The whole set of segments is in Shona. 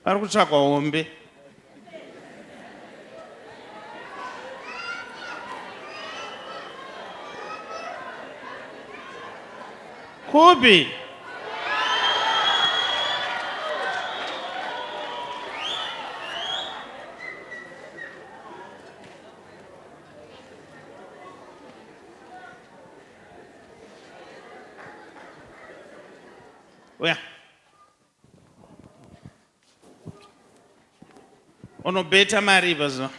Pari kutsvagwa hombe. Kupi? unobeta mari pazuva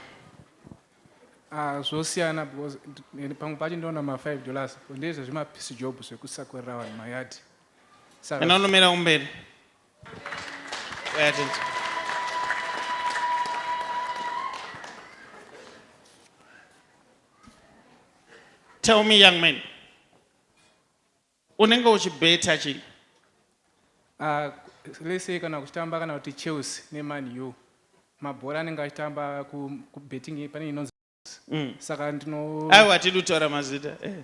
ah, zvosiyana because pamwe pacho ndoona ma5 dollars ndezve zvimapiece job zvekusakorera vanhu mayadi kana unomira kumberi tell me young man Unenge uchibeta chii? Uh, let's say kana kuchitamba kana kuti Chelsea neMan U mabhora anenge achitamba kubetting ku pane inonzi mm. saka ndino aiwa hatidi kutaura mazita eh.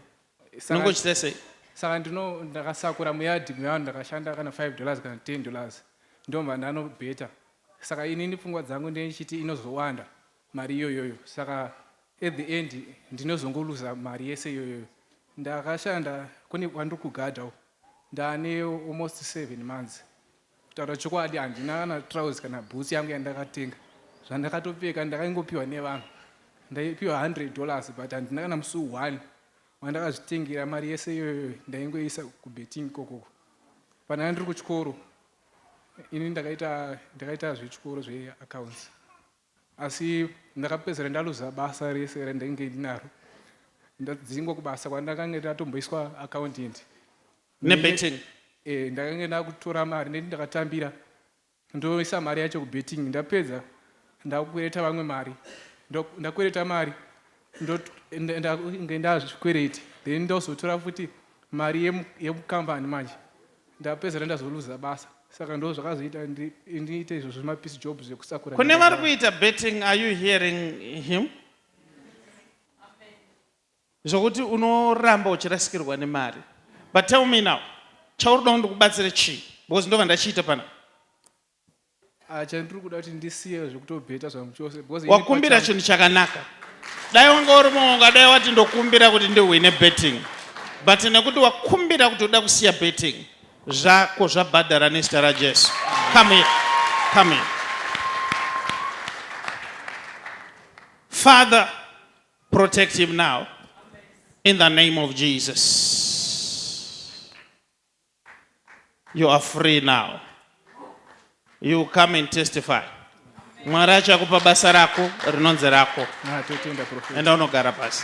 unenge uchita sei? saka ndino ndakasakura muyadhi mevanhu ndakashanda kana 5 dollars kana 10 dollars ndomva ndanobeta saka inini pfungwa dzangu ndeichiti inozowanda mari iyoyoyo saka at the end ndinozongoluza mari yese iyoyoyo ndakashanda kune kwandiri kugadha uko ndaane almost seven months kutaura chokwadi handina kana trouse kana boots yangu yandakatenga zvandakatopfeka ndakaingopiwa nevanhu ndaipiwa hundred dollars but handina kana musi one wandakazvitengera mari yese iyoyoyo ndaingoisa kubetting kokoko pandanga ndiri kuchikoro ini ndakaita ndakaita zvechikoro zveaccounts Asi ndakapedzisira ndaluza basa rese randainge ndinaro ndadzingwa kubasa kwandakange ndatomboiswa accountant nebetting eh, ndakange ndakutora mari neti ndakatambira ndoisa mari yacho kubetting ndapedza ndakukwereta vamwe mari ndakwereta mari ndoinge ndazvikwereti then ndozotora futi mari yemukambani manje Ndapedzera ndazoluza basa saka ndo zvakazoita ndiite izvo zvemapiece jobs zvekusakura. Kune vari kuita betting are you hearing him? Zvokuti unoramba uchirasikirwa nemari. But tell me now, chauri kuda kuti ndikubatsire chii? Because ndova ndachiita pana. Ah, chandiri kuda kuti ndisiye zvekutobheta zvangu chose because ini wakumbira pachangu- chinhu chakanaka dai wanga uri muonga dai wati ndokumbira kuti ndihwine betting but nekuti wakumbira kuti uda kusiya betting zvako zvabhadhara nezita rajesu come here come here father protect him now in the name of jesus You are free now. You come and testify. Mwari achakupa basa rako rinonzi rako. Ah, Enda unogara pasi.